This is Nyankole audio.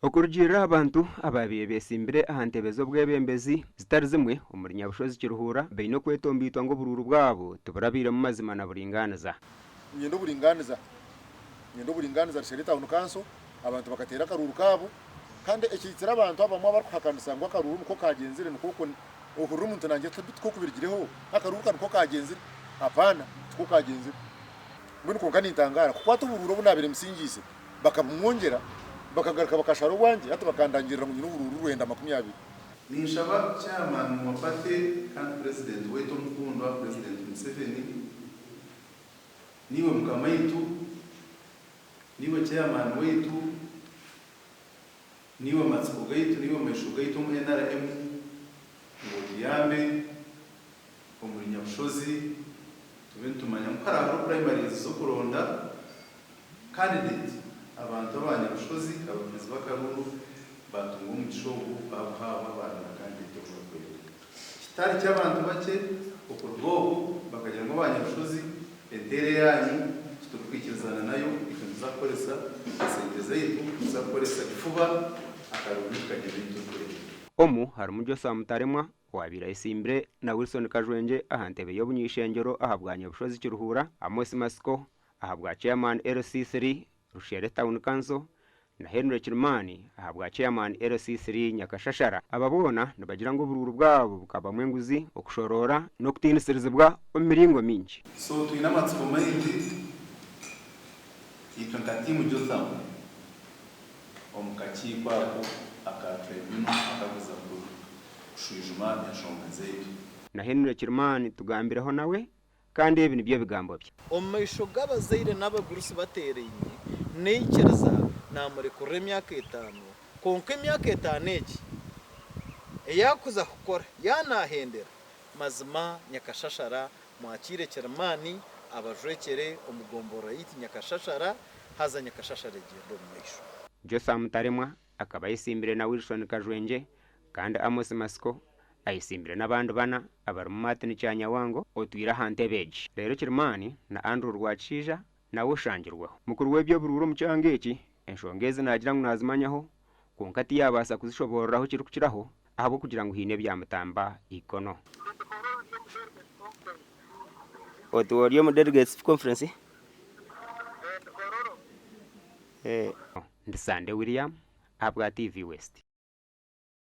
Okurugiirira aha bantu abaabaire beetsimbire aha ntebe z'obwebembezi zitari zimwe omuri Nyabushozi Kiruhura baine okwetombeitwa ngu oburuuru bwabo tiburabairemu mazima na buringaaniza. Ninyenda oburingaaniza, ninyenda oburingaaniza, Rishari Town Council, Abantu bakateera akaruuru kaabo kandi ekihitsire abantu abamwe abarikuhakanisa ngu akaruuru nikwo kaagyenzire nikwo okwo ohurira omuntu naagira ati tikwo ku birigireho, akaruuru ka nikwo kaagyenzire. Hapaana! Tikwo kaagyenzire. Mbwenu kwonka nintangaara kukwata oburuuru obu naabaire mbusingiise bakabumwongyera, bakagaruka bakashara obwangye hati bakandangirira ngu nyine oburuuru rwenda makumi abiri. Ninshaba Chairman wa Party kandi President waitu omukundwa President Museveni, naiwe mukamaitu, naiwe Chairman waitu, Niiwe matsiko gaitu, niiwe maisho gaitu omu nrm, ngu otuyambe omuri Nyabushozi tube nitumanya ngu hariho hariho primaries z'okuronda candidate abantu aba Nyabushozi abakiizi b'akaruru baatunga omugisha ogu baabuhaabwa baarunda candidate ou barikwenda. Kitari ky'abantu bakye okuruga obu bakagira ngu abanyabushozi enteera yaanyu titurikwikirizana nayo, itwe nituza kukoresa esente zaitu, nituza kukoresa kifuba akarundi tukagira ebi turikurega. Omu harimu Joshua Mutaremwa owaabaire ayesimbire na Wilson Kajwengye aha ntebe y'obunyaishengyero aha bwa Nyabushozi Kiruhura, Amos Matsiko aha bwa Chairman LC3, Rushere Town Council, na Henry Kirimani ahabwa Chairman LC3 Nyakashashara. Aba boona nibagira ngu oburuuru bwabo bukabamu enguzi, okushoroora n'okutiinisirizibwa omu miringo mingi. So twine amatsiko maingi itwe nka tiimu Jotham omu kakiiko ako aka Tribunal akakuza kushwijuma enshonga zaitu. Na Henry Kirimani tugambireho nawe kandi ebi nibyo bigambo bye. Omu maisho g'abazaire n'abagurusi bateeraine, naikiriza naamurekurira emyaka etaano, kwonka emyaka etaano egi ei arikuza kukora yaaba naahendera, mazima nyakashashara mwakiire Kirimaani abajwekyere omu gomborora yaitu nyakashashara, haza nyakashashara egyende omu maisho. Josa Mutaremwa Akaba ayetsimbire na Wilson Kajwengye kandi Amos Matsiko ayetsimbire n'abandi bana abarimu Martin Kyanyawango otwire aha ntebe egi, reero Kirimani na Andrew Rwakishaija nawe oshangirweho. Mukuru w'eby'oburuuri omu kyanga eki enshonga ezi naagira ngu naazimanyaho kwonka tiyaabaasa kuzishoboorora ahu kirikukiraho ahabw'okugira ngu haine ebyamutamba eikono. Otuba ori omu Delegates Conference? Ndi Sande William ahabwa TV West.